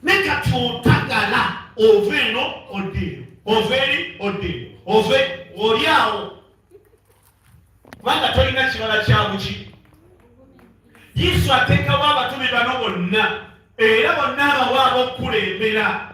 naye kati otagala ova eno odda eno ova eri odda eno ove oli awo kubanga tolina kibala kyabuki yesu ateekawo abatume bano bonna era bonna abawa abokukulembera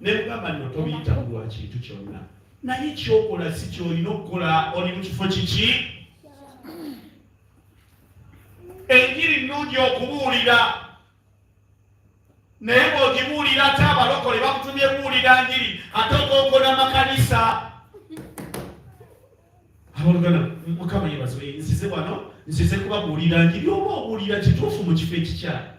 nekugamba nno tobiyita mu lwa kintu kyonna naye kyokola si kyolina okukola oli mu kifo kiki enjiri nnungi okubuulira naye bwogibuulira ate abalokole bakutumye buulira njiri ate okonkola makanisa abalugana mukama yebazibe nsize wano nsize kubabuulira njiri oba obuulira kituufu mu kifo ekikyala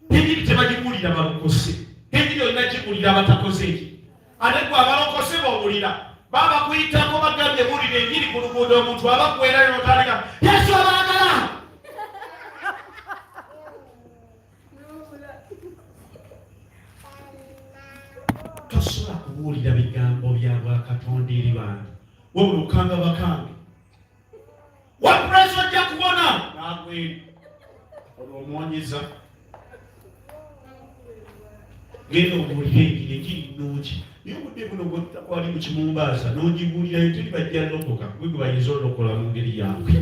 Enjiri tebagibuulira balokose, enjiri olina gibuulira abatakoze enjiri. Ate gwe abalokose b'owulira baba bakuyitako bagambye buulira enjiri ku luguudo omuntu aba kuwerayo notandika Yesu abaagala tosobola kubuulira bigambo bya bwakatonda eri bantu wabula okanga bakange wapresa ojja kubona nagwe olwo omwonyeza genda obuulire engeri egiri nnungi naye obudde buno bwali mu kimumbaaza n'ogibuulirayo tuli bajja lokoka gwe gwe bayinza olokola mu ngeri yange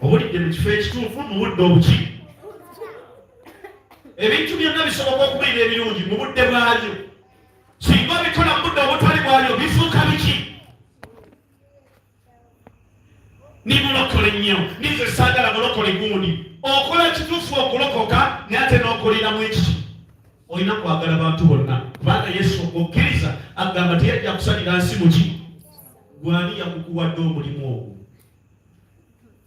obulidde mu kifo ekituufu mu budde obuki ebintu byonna bisoboka okubeera ebirungi mu budde bwabyo singa obikola mu budde obutali bwalyo bifuuka biki nimulokole nnyo nize saagala mulokole gundi okola kitufu okulokoka naye ate n'okolera mu ekiki olina kwagala bantu bonna kubanga yesu okukkiriza agamba teyajja kusalira nsi muki gwani yakukuwadde omulimu ogwo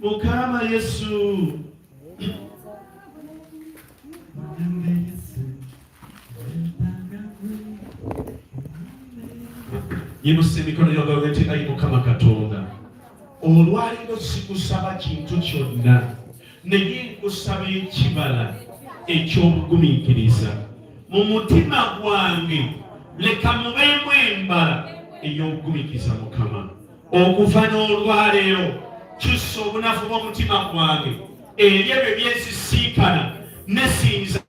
mukama yesu yimusa emikono yogaga nti ayi mukama katonda olwaliro sikusaba kintu kyonna naye nkusaba ekibala ekyobugumiikiriza mu mutima gwange leka mubeemu embala ey'obugumiikiriza mukama okuva n'olwaleero kyusa obunafu bw'omutima gwange eri ebyo byesisinkana nesinza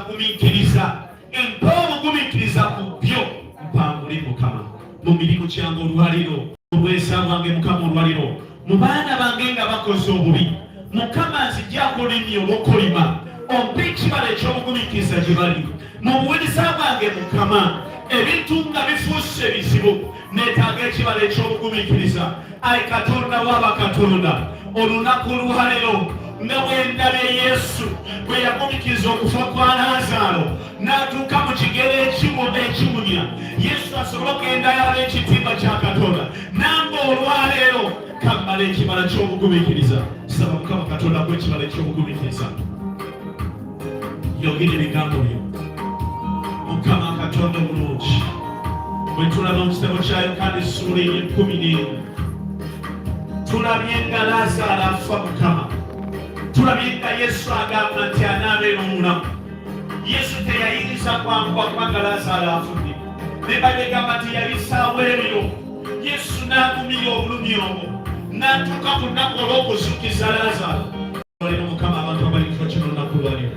gumiikiriza empa obugumiikiriza ku byo mpangule mukama mu mirimu kyange olwaleero obwesa bwange mukama olwaleero mu baana bange nga bakoze obubi mukama nzija kulimya obukolima ompa ekibala eky'obugumikiriza gye bali mu buwuliza bwange mukama ebintu nga bifuuse ebizibu neetaaga ekibala eky'obugumikiriza ayi katonda waaba katonda olunaku olwaleero nga bwe ndabye yesu bwe yagumikiriza okufa kwa laazaalo n'atuuka mu kigero ekimu ekimunya yesu asobole okugenda ekitimba kya katonda namba olwaleero kammala ekibala ky'obugumikiriza saba mukama katonda ku ekibala eky'obugumikiriza yogera ebigambo byo mukama katonda omulungi bwe tulaba mu kitabo kya yokaana essuula ey'ekkumi n'emu tulabye nga laazaala afa mukama tulabye nga yesu agamba nti anaaba era omulamu yesu teyayinza kwanguwa kubanga lazaalo afudde nebadegamba nti yali saawa ebyo yesu n'agumira obulumi obwo n'atuuka ku nnaku olw'okuzukiza lazaalo olero mukama abantu abali kifo kino nnaku lwalyo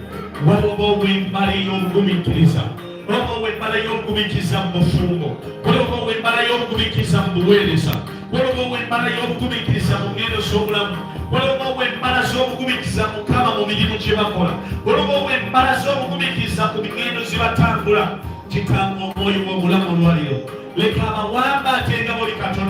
waliwo obwembala ey'obugumiikiriza waliwo obwembala y'obugumiikiriza mu bufumbo waliwo obwembala y'obugumiikiriza mu buweereza waliwo obw'embala y'obugumiikiriza mu ngendo z'obulamu waliwo obw'embala z'obugumiikiriza mukama mu mirimu gye bakola waliwo obw'embala z'obugumiikiriza ku migendo gye batambula kitanga omwoyo w'obulamu olwaliro leka abawamba atenga buli katonda